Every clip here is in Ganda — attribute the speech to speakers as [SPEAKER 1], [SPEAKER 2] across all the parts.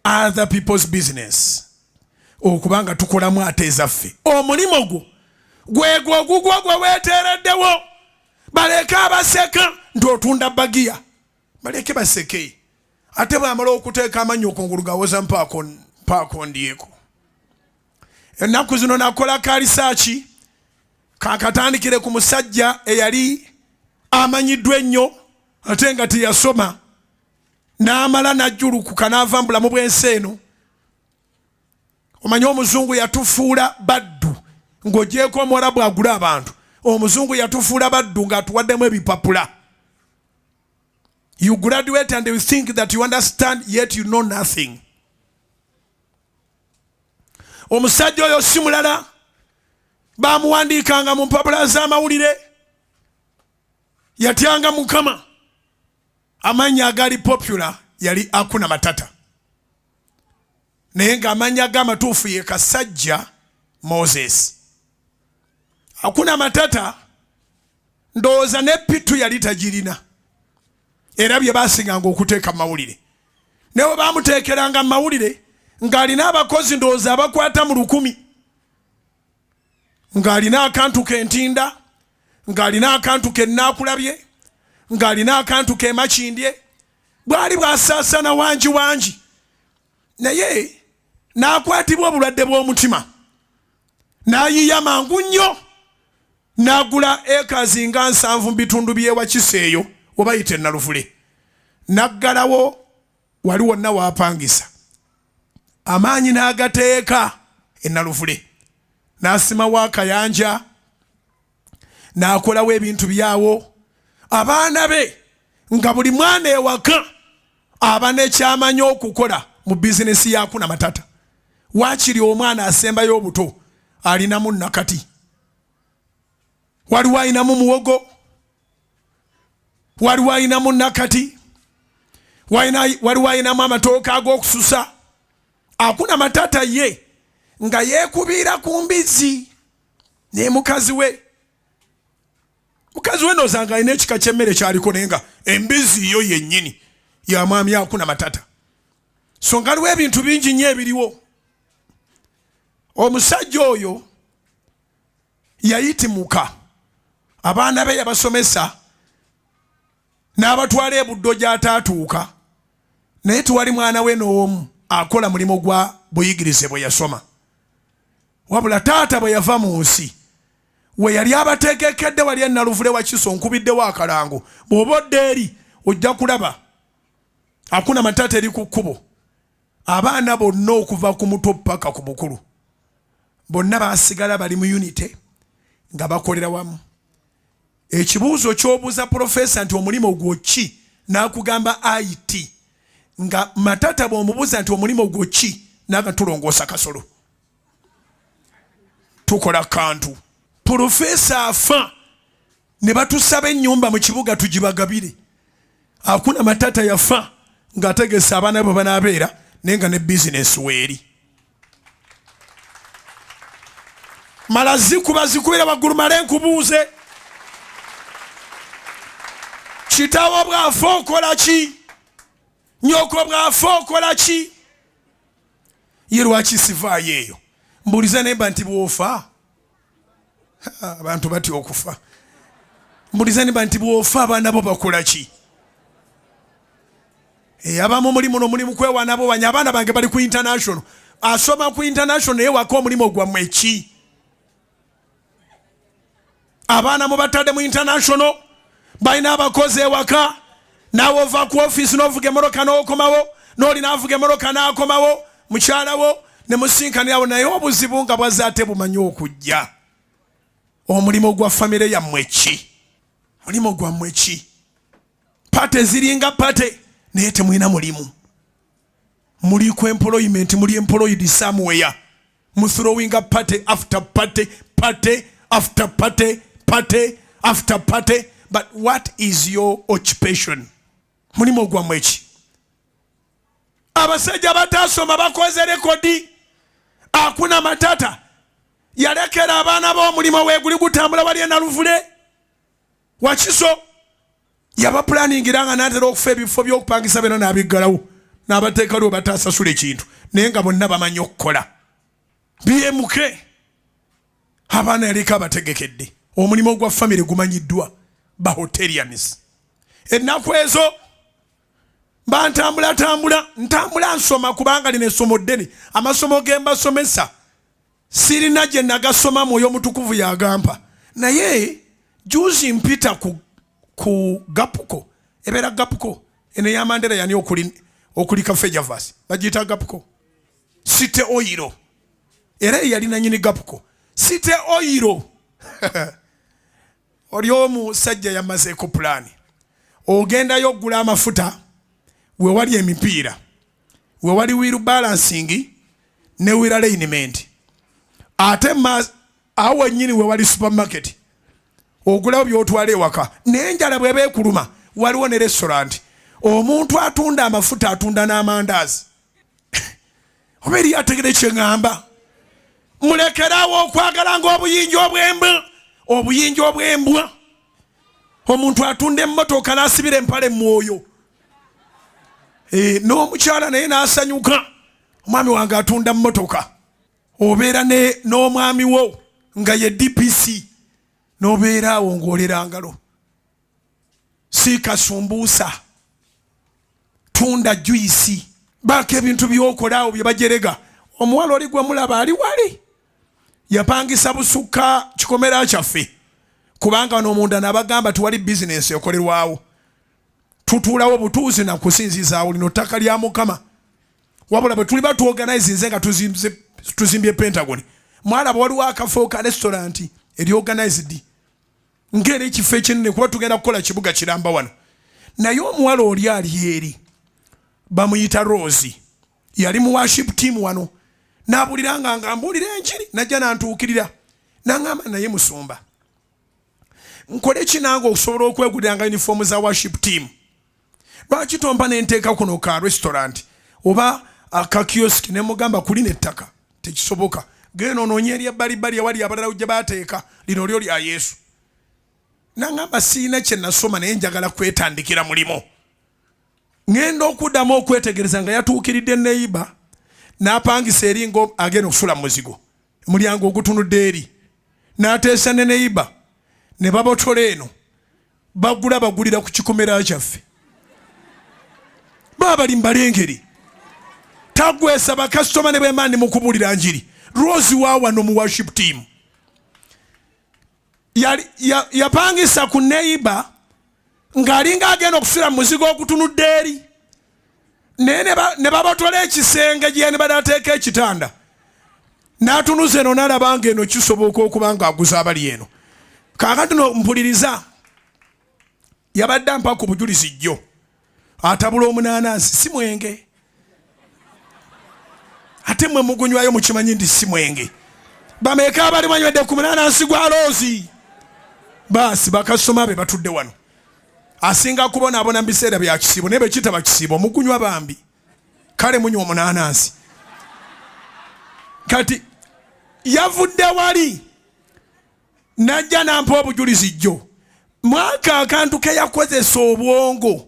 [SPEAKER 1] other people's business okuba nga tukolamu ate ezaffe omulimu gwo gwegwo ogugwo gwe weeteereddewo baleeke abaseka nti otunda bagiya baleeke baseke ate bwamala okuteeka amanyi okungulu gawoza mpaako ndyeko ennaku zino nakola kalisaaki kakatandikire ku musajja eyali amanyiddwa ennyo ate nga teyasoma n'amala n'ajjulukuka n'ava mu bulamu bw'ensi eno omanyi omuzungu yatufuula baddu ng'ogyeko omuwarabu agula abantu omuzungu yatufuula baddu ng'atuwaddemu ebipapula you graduate and you think that you understand yet you know nothing omusajja oyo si mulala bamuwandiikanga mu mpapula z'amawulire yatyanga mukama amanya agali popular yali akuna matata naye ng'amanya ge amatuufu ye kasajja moses akuna matata ndowooza ne pitu yali tagirina era bye baasinganga okuteeka mu mawulire naye baamuteekeranga mu mawulire ng'alina abakozi ndowooza abakwata mu lukumi ng'alina akantu kentinda ng'alina akantu kennaakulabye ng'alina akantu kemakindye bwali bwasaasana wangi wangi naye n'akwatibwa obulwadde bw'omutima n'ayiya mangu nnyo n'agula ekazi nga nsanvu mu bitundu by'ewakiseeyo obayita enaluvule n'aggalawo wali wonna waapangisa amaanyi n'agateeka enaluvule n'asimawo akayanja n'akolawo ebintu byawo abaana be nga buli mwana ewaka aba nekyamanyi okukola mu bizinesi yakuna matata wakiri omwana asembayo obuto alinamu nakati waliwo alinamu muwogo waliwo alinamu nakati waliwo alinamu amatooka ag'okususa akuna matata ye nga yekubiira ku mbizzi ne mukazi we mukazi we nozanga alina ekika kyemmere kyaliko naye nga embizzi yo yennyini ya mwami akuna matata so nga aliwo ebintu bingi nnyo ebiriwo omusajja oyo yayitimuka abaana be yabasomesa n'abatwala ebuddo gy'ataatuuka naye tewali mwana we n'omu akola mulimu gwa buyigirize bwe yasoma wabula taata bwe yava mu nsi we yali abateekekedde wali enaluvule wakiso nkubiddewo akalango bw'oba odda eri ojja kulaba akuna matata eri ku kkubo abaana bonna okuva ku muto paka ku mukulu bonna basigala bali mu unity nga bakolera wamu ekibuuzo kyobuuza profesa nti omulimu gwo ki nakugamba it nga matata bwomubuuza nti omulimu gwo ki naga tulongoosa kasolo tukola kantu profesa afa ne batusaba ennyumba mu kibuga tugibagabire akuna matata yafa ng'ategese abaana bwe banaabeera naye nga ne bizinesi weeri mala zikuba zikubira waggulu male nkubuuze kitawo bwafa okola ki nyoko bwafa okola ki ye lwaki sivaayo eyo mbuulize nemba nti bwofa abantu batya okufa mbulizani banti bwofa abaana bo bakola ki eh, abamu omulimu no mulimu kwewana bo banya abaana bange bali ku international asoma ku international naye waka omulimu gwamwe ki abaana mubatadde mu international balina abakozi ewaka naawe ova ku ofiisi n'ovuga emmotoka n'okomawo n'oli n'avuga emmotoka n'akomawo mukyalawo ne musinkanirawo naye obuzibu nga bwaze ate bumanyi okujja omulimu gwa famire yammwe ki mulimu gwammwe ki pate ziringa pate naye temulina mulimu muli ku employment muli employed somewhere muthrowinga party after party party after party party after party but what is your occupation mulimu ogwamu eki abasajja batasoma bakoze rekodi akuna matata yalekera abaana b'omulimu weguli gutambula wali enaluvule wakiso yabapulaningira nga natera okufa ebifo byokupangisa bena nabiggalawo nabateeka lwe batasasula ekintu naye nga bonna bamanyi okukola bmk abaana yaliko abategekedde omulimu ogwa famire gumanyiddwa bahoterians ennaku ezo bantambulatambula ntambula nsoma kubanga lino essomo ddene amasomo gembasomesa sirina gye nagasoma mwoyo mutukuvu yagampa naye juzi mpita ku, ku gapuko ebeera gapuko eno eyamandera yani okuli, okuli kafejavas bagiyita gapuko site oyiro era eyali nanyini gapuko site oyiro oli omusajja yamazeeko pulaani ogendayo okugula amafuta wewali emipiira we wali wheel balancing ne wheel alignment ate ma awo nyini we wali supermarket ogulawo byotwala ewaka naye enjala bweba ekuluma waliwo ne restaurant omuntu atunda amafuta atunda n'amandazi oba eri ategere kyeŋamba mulekerawo okwagala nga obuyinja obwembwa obuyinja obwembwa omuntu atunda emmotoka n'asibira empale mwoyo eh, n'omukyala naye n'asanyuka omwami wange atunda mmotoka obeera n'omwami wo nga ye dpc n'obeera awo ng'olera ngalo si kasumbuusa tunda juyisi baako ebintu byokolaawo bye bajerega omuwala oli gwe mulaba ali wali yapangisa busukka kikomera kyaffe kubanga wano omunda nabagamba tiwali bizinensi ekolerwawo tutuulawo butuuzi nakusinzizaawo lino ttaka lya mukama wabula bwe tuliba tuoganize nze nga tuzimbye pentagon mwalaba waliwo akafo ka restauranti eri organized ngaera ekifo ekinene kuba tugenda kukola kibuga kiramba wano naye omuwala oli ali eri bamuyita rose yali mu worship team wano nabuliranga nga mbuulira enjiri najja nantuukirira nangamba naye musumba nkole ki nange okusobola okweguliranga uniform za worship team lwaki tompa nenteeka kuno ka restaurant oba akakioski nemugamba kuli nettaka tekisoboka genda ononye eri ebbalibbali ewali abalala gye bateeka lino lyo lya yesu nangamba siina kyenasoma naye njagala kwetandikira mulimu ŋŋenda okuddamu okwetegereza nga yatuukiridde neyiba n'apangisa eri nga agenda okufula mu muzigo omulyango ogutunudde eri n'ateesa ne neyiba ne babotola eno bagula bagulira ku kikomera kyaffe baba bali mubalengeri tagwesa bakasitoma ne bwemba ndi mukubulira njiri rose wawano mu worship team yapangisa ya, ya ku neiba ng'alinga agenda okufiira mu muzigo ogutunudde eri naye ne babatola ekisenge gyeyani bade ateeka ekitanda n'atunuza eno n'alaba nga eno kisoboka okuba ng'aguza abali eno kaakati no mpuliriza yabadde ampa ku bujulizi jjo atabula omunaanansi si mwenge ate mwe mugunywayo mukimanyi nti si mwenge bameeka abali banywedde ku munaanansi gwa loozi baasi bakasoma be batudde wano asinga kubonaabona mu biseera bya kisiibo naye bekitaba kisiibo mugunywa bambi kale munywa omunaanansi kati yavudde wali najja nampa obujulizi jjo mwaka akantu keyakozesa obwongo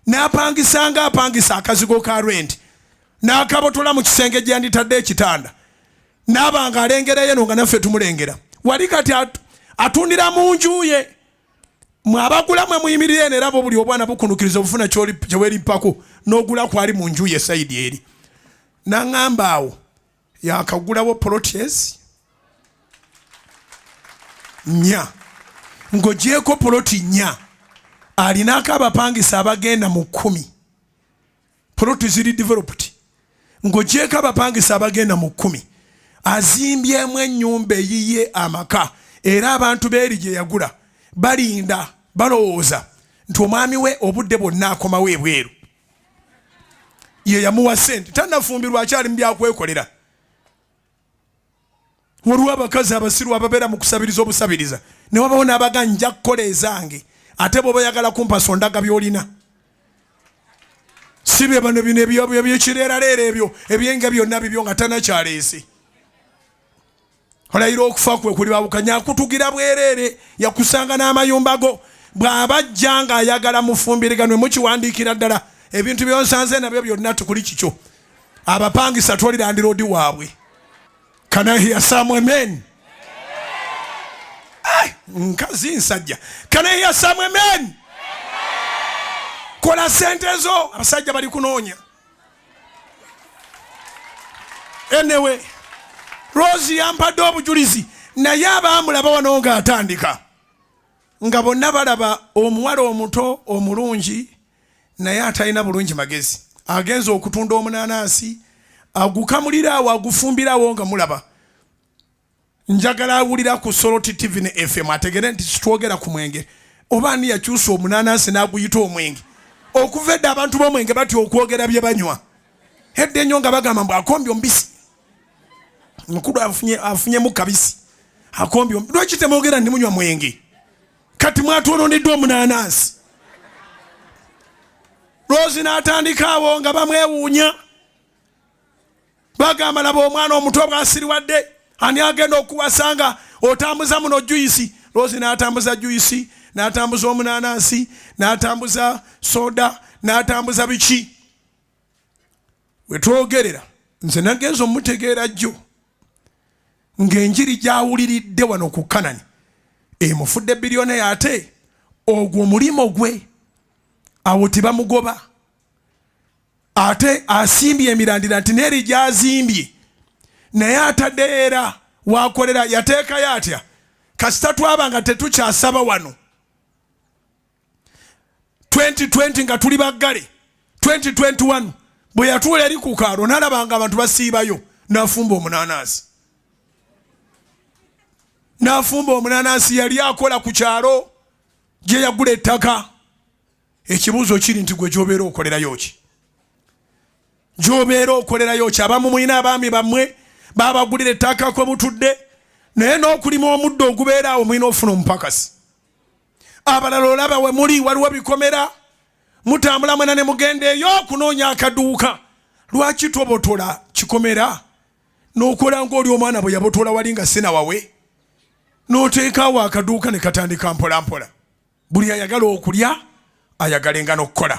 [SPEAKER 1] napangisa nga apangisa akazigo ka rent nakabotola mu kisenge gyanditadde ekitanda naba nga alengera yeno nga naffe tumulengera wali kati atundira mu njuye mwabagula mwe muyimirire eno erabo buli obwana bukunukiriza obufuna kyewerimpako nogula kwali mu njuye saidi eri naŋamba awo yakagulawo polotyezi nya ng'ogyeko poloti nya alinaako abapangisa abagenda mu kkumi poloti ziri developed ng'ogyeko abapangisa abagenda mu kkumi azimbyemu ennyumba eyiye amaka era abantu beeri gye yagula balinda balowooza nti omwami we obudde bwonna akomawo ebweru ye yamuwa sente tanafumbirwa akyali mu byakwekolera waliwo abakazi abasiru ababeera mu kusabiriza obusabiriza ne wabawo n'abaga nja kukola ezange ate bwoba yagala kumpasa ondaga byolina si bye bano bino ebyo ebyo kireraleero ebyo ebyenga byonna bibyo nga tanakyaleese olayira okufa kwe kuli babukanya akutugira bwereere yakusanga n'amayumba go bw'aba ajja ng'ayagala mufumbiriganwe mukiwandiikira ddala ebintu byonsanze nabyo byonna tukuli kikyo abapangisa twolirandiroodi waabwe kanahiya samu amen nkazi nsajja kanahiya samu amen kola sente zo abasajja bali kunoonya enewe rosi yampadde obujulizi naye abaamulaba wano ng'atandika nga bonna balaba omuwala omuto omulungi naye atalina bulungi magezi agenza okutunda omunanansi agukamuliraawo agufumbirawo nga mulaba njagala awulira ku Soroti TV ne FM ategere nti sitwogera ku mwenge oba ani yakyusa omunanansi n'aguyita omwenge okuva edda abantu b'omwenge batya okwogera bye banywa edda ennyo nga bagamba mbu akombye omubisi mukulu afunyemu kabisi akombye lwaki temwogera ndi munywa mwenge kati mwatwononeddwa omunanansi lwozi n'atandikaawo nga bamwewuunya bagamba laba omwana omuto bwasiriwadde ani agenda okuwasa nga otambuza muno juyisi loozi n'atambuza juyisi n'atambuza omunanansi n'atambuza soda n'atambuza biki wetwogerera nze nagenza omutegeera jjo ng'enjiri gyawuliridde wano ku kanani emufudde biryoneyo ate ogwo omulimu gwe awo tebamugoba ate asimbye emirandira nti neeri gyazimbye naye atadde era wakolera yateekayo atya kasita twaba nga tetukyasaba wano 2020 nga tuli baggale 2021 bwe yatuula eri ku kaalo nalabanga abantu basiibayo nafumba omunanansi nafumba omunanansi yali akola ku kyalo gye yagula ettaka ekibuuzo kiri nti gwe gyobeera okolerayo ki gyobeera okolerayo ki abamu mulina abaami bammwe babagulira ettaaka kwe mutudde naye n'okulima omuddo ogubeera awo mulina ofuna omupakasi abalala olaba we muli waliwo bikomera mutambula mwena ne mugenda eyo okunoonya akaduuka lwaki tobotola kikomera n'okola ng'oli omwana bwe yabotola wali nga sinawawe n'oteekaawo akaduuka ne katandika mpolampola buli ayagala okulya ayagalenga n'okukola